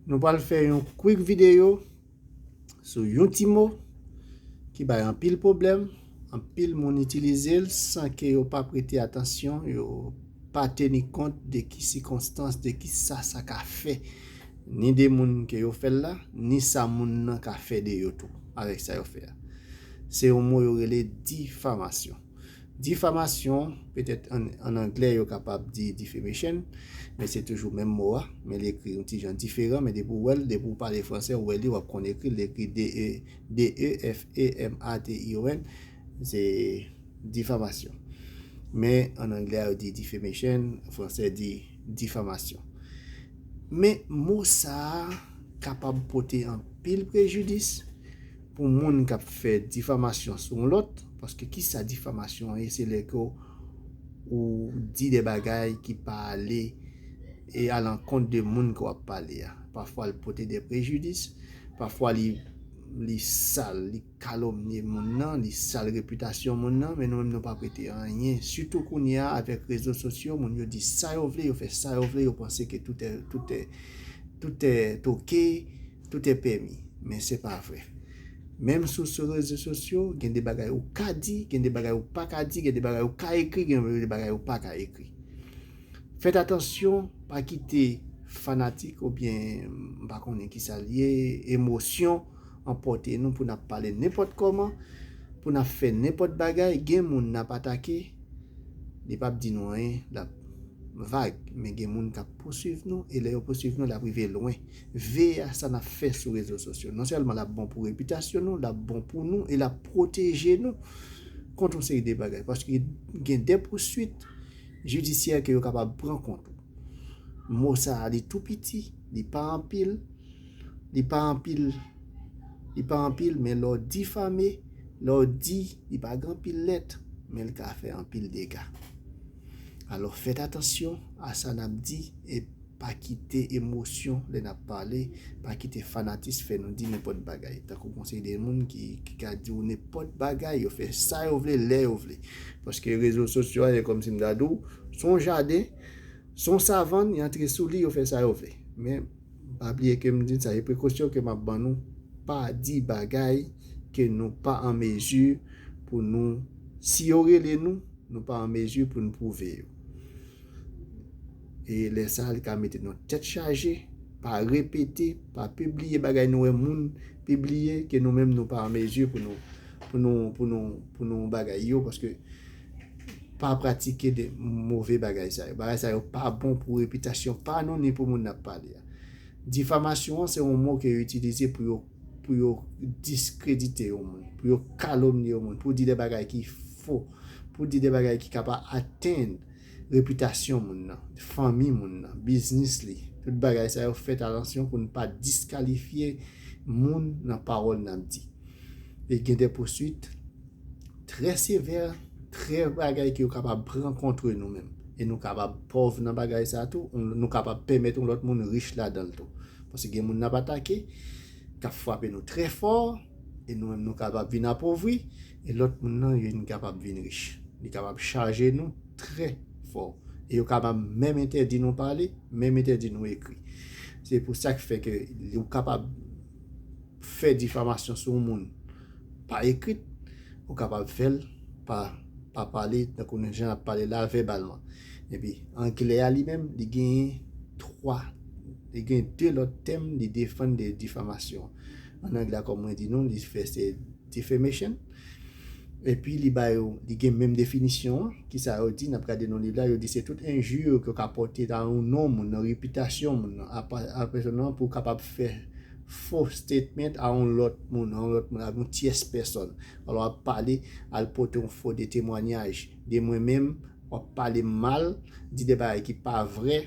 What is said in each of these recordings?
Nou pral fè yon quick video sou yon ti mo ki bay anpil pwoblèm, anpil moun itilize l san ke yo pa prete atansyon, yo pa teni kont de ki sikonstans, de ki sa sa ka fè ni de moun ke yo fè l la, ni sa moun nan ka fè de yo tou avèk sa yo fè a. Se yon mo yo rele difamasyon. Difamasyon, petèt an anglè yo kapab di defamation, men se toujou menm mo a, men li ekri yon ti jan diferan, men depi ou wè l, depi ou pale fransè ou wè li, w ap konn ekri l, li ekri d-e-f-a-m-a-t-i-o-n, se difamasyon. Men an anglè a yo di defamation, an fransè di difamasyon. Men mo sa a kapab pote anpil prejidis pou moun k ap fè difamasyon sou yon lòt, paske ki sa difamasyon an ye, se lè ke ou di de bagay ki pa ale e a lankont de moun ke w ap pale a. Pafwa li pote de prejidis, pafwa li sal, li kalomnye moun nan, li sal repitasyon moun nan, men nou menm nou pa prete anyen. Sitou kounye a avèk rezo sosyo, moun yo di sa yo vle, yo fè sa yo vle, yo panse ke tout è, tout è, tout è toke. Tout e pèmi. Men se pa vre. Menm sou sou rezo sosyo, gen de bagay ou ka di, gen de bagay ou pa ka di, gen de bagay ou ka ekri, gen de bagay ou pa ka ekri. Fèt atansyon, pa kite fanatik ou byen m pa konnen ki sa l ye, emosyon anpòte nou pou n ap pale nenpòt kòman, pou n ap fè nenpòt bagay. Gen moun n ap atake, li p ap di nou anyen, l ap vag. Men gen moun k ap pousuiv nou e lè yo pousuiv nou l ap rive lwen. Vea sa nap fè sou rezo sosyo. Non sèlman lap bon pou repitasyon nou, lap bon pou nou e lap pwoteje nou kont yon seri de bagay. Paske gen de pouswit jidisyè ke yo kapab pran kont ou. Mo sa a li tou piti, li pa anpil, li pa anpil, li pa anpil men lè w difame, lè w di li pa gen anpil lèt men li ka fè anpil dega. Alò fèt atansyon a sa nap di e. Pa kite emosyon lè nap pale, pa kite fanatis fè nou di nenpòt bagay. Tankou gon seri de moun ki ka di ou nenpòt bagay, yo fè sa yo vle, lè yo vle. Paske rezo sosyo a se kòmsi m ta di w, s on jaden, s on savann, y antre sou li, yo fè sa yo vle. Men, pa bliye ke m di n sa, e prekosyon ke map ban nou, pa di bagay ke nou pa an mezi pou nou, si yo rele nou, nou pa an mezi pou n pwouve yo. E lè sa li ka mete nou tèt chaje, pa repete, pa pibliye bagay nou wè moun pibliye ke nou menm nou pa an mezi pou nou pou nou pou nou pou nou bagay yo paske pa pratike de move bagay sa yo. Bagay sa yo pa bon pou repitasyon pa nou ni pou moun n ap pale a. Difamasyon an se yon mo ke yo itilize pou yo pou yo diskredite yon moun, pou yo kalomnye yon moun, pou di de bagay ki fo, pou di de bagay ki ka pa atenn repitasyon moun nan, fanmi moun nan, biznis li. Tout bagay sa yo fèt atansyon pou n pa diskalifye moun nan pawòl n ap di. E gen de pouswit trè sevè, trè bagay ki yo kapab pran kontre nou menm. E nou kapab pòv nan bagay sa tou, nou kapab pèmèt yon lòt moun rich ladan l tou. Paske gen moun n ap atake, k ap frape nou trè fò, e nou menm nou kapab vin apovri, e lòt moun nan yo vin kapab vin rich. Li kapab chaje nou trè fò. E yo kapab menm entèdi nou pale, menm entèdi nou ekri. Se pou sa ki fè ke ou kapab fè difamasyon sou yon moun pa ekrit, ou kapab fè l pa pale tankou nou jan n ap pale la vèbalman. Epi anglè a li menm li genyen twa. Li gen 2 lòt tèm li defann de difamasyon. An anglè kòm mwen di nou li fè se defamation. Epi li ba yo, li gen menm definisyon an. Kisa yo di, n ap gade nan liv la, yo di se tout enjure ke w ka pòte nan yon non moun, nan repitasyon moun nan, a pèsòn nan pou w kapab fè fo statement a yon lòt moun, a yon lòt moun, a yon tyès pèsòn. Alò w ap pale, al pote yon fo de temwanyaj de mwen menm, Wap pale mal, di de bagay ki pa vrè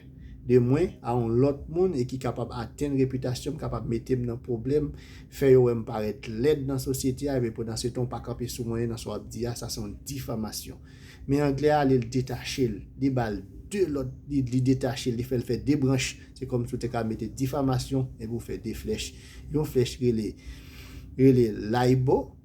de mwen a yon lòt moun e ki kapab atenn repitasyon m, kapab mete m nan pwoblèm, fè yo wè m parèt lèd nan sosyete a, epi pandansetan w pa kanpe sou mwen nan sa wap di a, sa se yon difamasyon. Men anglè a ale l detache l, li ba l 2 lòt, li detache l, li fè l fè 2 branch, se kòm si w te ka mete difamasyon epi w fè 2 flèch, yon flèch rele, rele laybo,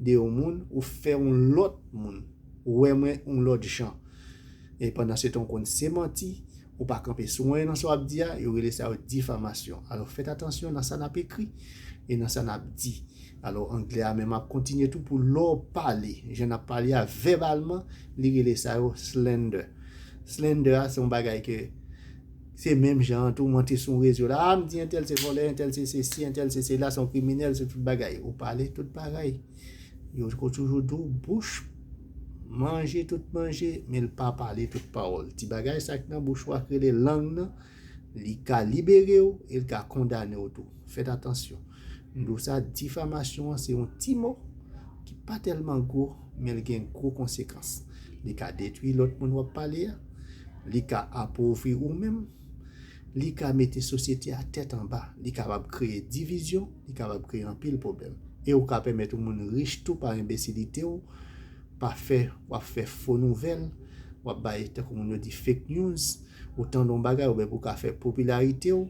de yon moun ou fè yon lòt moun wè mwen yon lòt jan e pandan se tan ou konn se manti ou pa kanpe sou anyen nan sa wap di a yo rele sa yo difamasyon alò fèt atansyon nan sa nap ekri e nan sa nap di alò anglè a menm ap kontinye tou pou lò pale jan nap pale a vèbalman li rele sa yo slander slander a se yon bagay ke Se menm jan an tou monte sou yon rezo la, a m di entèl se vòlè, entèl se sesi, entèl se sela, se yon kriminèl, se tout bagay. Ou pale tout bagay. Yo ko toujou di w bouch manje tout manje, men l pa pale tout pawòl. Ti bagay sa ki nan bouch ou a ki rele lang nan, li ka libere w e l ka kondane w tou. Fèt atansyon. M do sa difamasyon an se yon ti mo ki pa tèlman gwo men l gen gwo konsekans. Li ka detwi lòt moun w ap pale a, li ka apovri ou menm, li ka mete sosyete a tèt anba, li kapab kreye divizyon, li kapab kreye anpil pwoblèm. E ou ka pèmèt yon moun rich tou pa enbesilite w, pa fè w ap fè fo nouvèl, w ap bay tankou moun yo di fake news, ou tande yon bagay oubyen pou w ka fè popilarite w.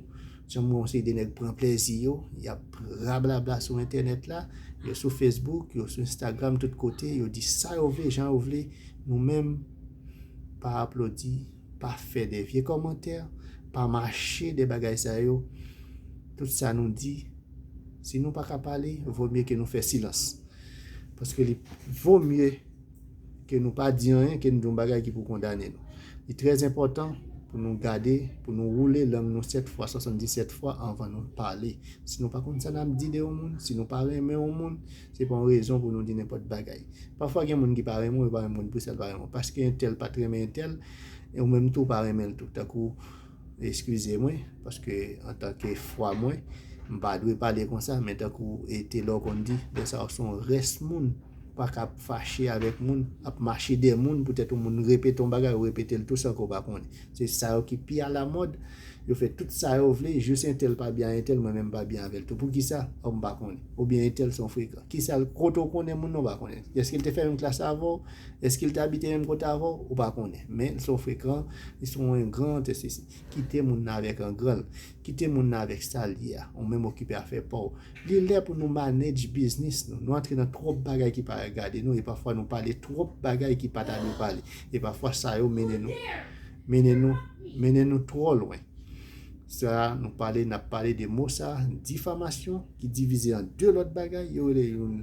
Janm wè yon seri de nèg pran plèzi yo, yap rablabla sou entènèt la, yo sou Facebook, yo sou Instagram, tout kote, yo di sa yo vle, jan yo vle, nou menm, pa aplodi, pa fè de vye kòmantè, pa mache de bagay sa yo, tout sa nou di, si nou pa ka pale, vò mye ke nou fè silans. Paske li vò mye. ke nou pa di anyen, ke nou di yon bagay ki pou kondane nou. Li trè enpòtan pou nou gade, pou nou woule lang nou 7 fwa, 77 fwa anvan nou pale. Si nou pa konn sa nap di de yon moun, si nou pa renmen yon moun, se pa yon rezon pou nou di nenpòt bagay. Pafwa gen moun ki pa renmen w, yo pa menm konn poukisa yo pa renmen w. Paske entèl pat renmen entèl, e ou menm tou ou pa renmen l tou. Tankou. Eskize mwen, paske antanke fwa mwen, m pa dwe pale konsa, men tankou e Telor konn di, lè sa yo se yon rès moun, ou pa ka ap fache avèk moun, ap mache dèyè moun poutèt yon moun repete yon bagay, ou repete l tou san ke w pa konnen. Se sa yo ki pi alamòd, yo fè tout sa yo vle, jis entèl pa byen a entèl, mwen menm m pa byen avè l tou. Poukisa? Ò m pa konnen. Oubyen entèl se yon frekan. Kisa l, kote w konnen moun nan ou pa konnen? Èske l te fè menm klas avè w? Èske l te abite menm kote avè w? Ou pa konnen. Men, l se yon frekan, li se yon engran, etcc. Kite moun nan avèk engran l. Kite moun nan avèk sa l ye a. Ou menm okipe afè pa w. Li lè pou nou manedj biznis nou. Nou antre nan twòp bagay ki pa regade nou e pafwa nou pale twòp bagay ki pa ta dwe pale. E pafwa sa yo mennen nou, mennen nou, mennen nou twò lwen. Sa a nou pale, n ap pale de mo sa a, difamasyon, ki divize an de lòt bagay, yo rele youn.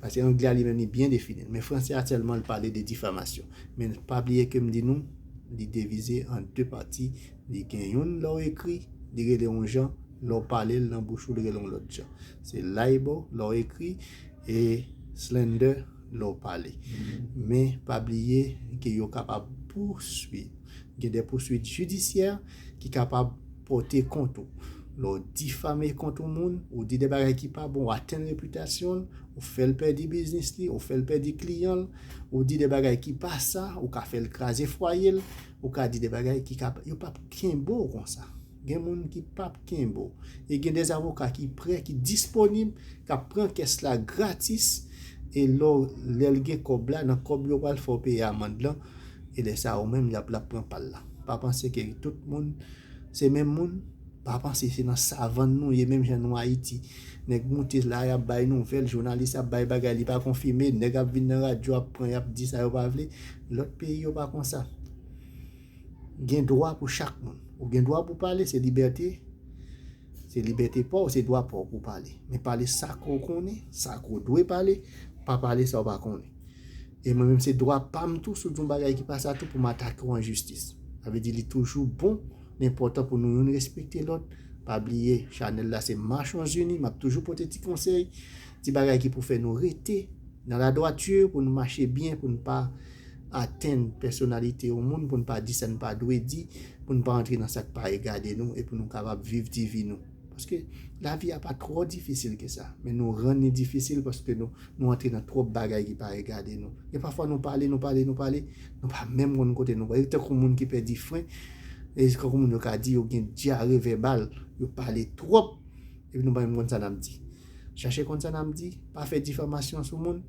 Pase anglè a li menm li byen defini l men fransè a sèlman l pale de difamasyon men pa bliye ke m di nou li devize an 2 pati li gen youn lè w ekri li rele yon jan lè w pale l nan bouch ou li rele yon lòt jan se liable lè w ekri e slander lè w pale men pa bliye ke yo kapab pouswi. Gen de pouswit jidisyè ki kapab pòte kont ou. Lè w difame kont yon moun, ou di de bagay ki pa bon, ou atenn repitasyon l, ou fè l pèdi biznis li, ou fè l pèdi kliyan l, ou di de bagay ki pa sa, ou ka fè l kraze fwaye l, ou ka di de bagay ki ka, yo p ap kenbe w konsa. Gen moun ki pap kenbe w. E gen des avoka ki prè, ki disponib, k ap pran kès la gratis e lè w, lè l gen kòb la, nan kòb yo pral fè w peye amand lan e lè sa ou menm l ap, l ap pran pa l la. Pa panse ke tout moun se menm moun, pa panse se nan savann nou ye menm jan nou Ayiti. Nèg moute la, y ap bay nouvèl, jounalis ap bay bagay li pa konfime, nèg ap vin nan radyo ap pran y ap di sa yo pa vle. Lòt peyi yo pa konsa. Gen dwa pou chak moun. Ou gen dwa pou pale, se libète, se libète pa w, se dwa pa w pou w pale. Men pale sa ke w konnen, sa ke w dwe pale, pa pale sa w pa konnen. E mwen menm se dwa pa m tou si w di yon bagay ki pa sa tou pou m atake w an jistis. Sa vle di li toujou bon, li enpòtan pou nou youn respekte lòt. Pa bliye chanèl la se Marchons Unis, m ap toujou pote ti konsèy, ti bagay ki pou fè nou rete nan la dwature, pou nou mache byen, pou nou pa. atenn pèsonalite yon moun pou n pa di sa n pa dwe di, pou n pa antre nan sa k pa regade nou e pou nou kapab viv ti vi nou. Paske, lavi a pa twò difisil ke sa, men nou rann li difisil paske nou antre nan twòp bagay ki pa regade nou. Gen pafwa nou pale, nou pale, nou pale, nou pa menm konn kote nou pale. Tankou moun ki pèdi fren, e tankou moun yo ka di yo gen dyare vèbal, yo pale twòp epi nou pa menm konn sa n ap di. Chache konn sa n ap di, pa fè difamasyon sou moun.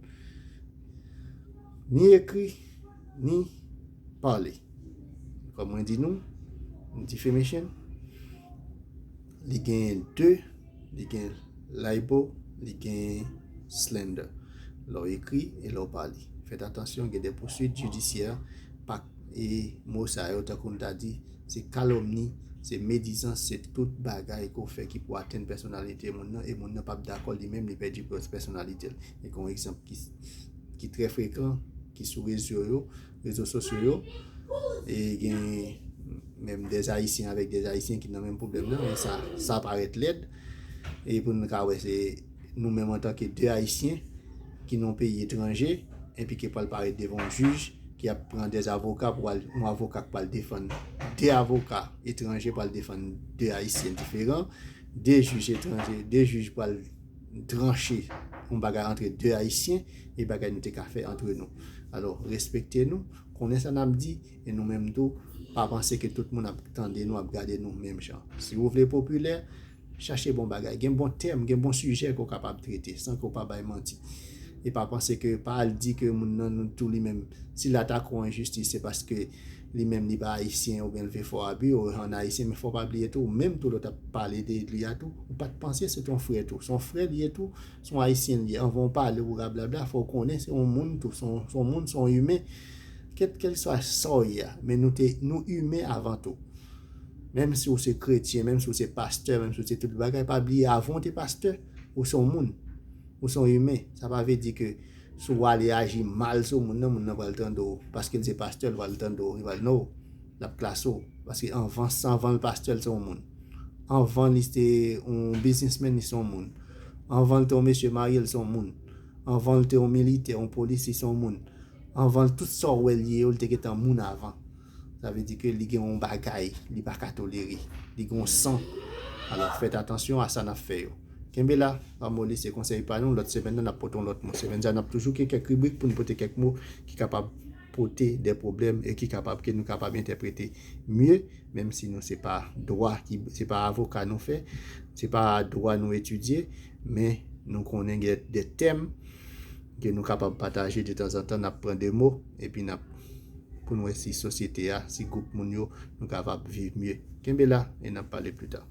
Ni ekri, ni pale. Kòm mwen di nou, yon ti femeshen, li gen de, li gen laibo, li gen slender. Lè w ekri e lè w pale. Fèt atansyon gen de pousuit jidisyè pa e mo sa yo tankou m ta di se kalomni, se medizans, se tout bagay ke w fè ki pou atenn pèsonalite moun nan e moun nan p ap dakò li menm li pèdi pèsonalite l. Mwen gen yon egzanp ki. ki trè frekan ki sou rezo yo, rezo sosyo yo e gen menm dè ayisyen avèk dè ayisyen ki nan menm pwoblèm nan men sa, sa parèt lèd e pou nou ka wè se nou menm antanke dè ayisyen ki nan yon peyi etranje epi ki pral parèt devan yon jij ki ap pran dè avoka pou al, yon avoka ki pral defann dè avoka etranje pral defann dè ayisyen diferan dè jij etranje, dè jij pral tranche yon bagay antre 2 ayisyen e bagay nou te ka fè antre nou alò respekte nou konnen sa nap di e nou menm tou pa panse ke tout moun ap tande nou ap gade nou menm jan si ou vle popilè chache bon bagay gen bon tèm gen bon sijè ke ou kapab trete san ke ou pa bay manti e pa panse ke pa al di ke moun nan nou tou li menm si la ta ko enjistis se paske Li menm li pa ayisyen oubyen l vle fè w abi o an ayisyen men fò w pa bliye tou ou menm tou lè w t ap pale de li a tou ou pa t panse se t on frè tou se on frè l ye tou se on ayisyen l ye anvan w pale ou rablabla fò w konnen se on moun tou se on moun se on imen kèt kèlkswa sa w ye a men nou te nou imen avan tou menm si w se kretyen menm si w se pastè menm si w se tout bagay pa bliye avan w te pastè ou se on moun ou se on imen sa pa vle di ke Si w ale aji mal sou moun nan, moun nan pral tande w, paske l se pastè, l pral tande w, li pral non, l ap klase w. Paske anvan sa, anvan l pastè, l se yon moun. Anvan li te yon biznismen, li se yon moun. Anvan l te yon mesye marye, l se yon moun. Anvan l te yon militè, yon polisye, l se yon moun. Anvan l, tout sa w wè l ye yo, l te gentan moun avan. Sa vle di ke li gen yon bagay li pa ka tolere. Li gen yon san. Alò fèt atansyon a sa n ap fè yo. Kenbe la, pa moli se konsèy pa nou. Lòt semèn nan n ap pote yon lòt mo. Semèn sa a n ap toujou gen kèk ribrik pou n pote kèk mo ki kapab pote dè pwoblèm e ki kapab ke nou kapab entèprete mye. Menm si nou se pa dwa ki, se pa avoka nou fè, se pa dwa nou etidye. Men nou konnen gen dè tèm ke nou kapab pataje detanzantan. N ap pran de mo epi n ap. pou n wè si sosyete a, si gwoup moun yo nou kapab viv mye. Kenbe la e n ap pale pli ta.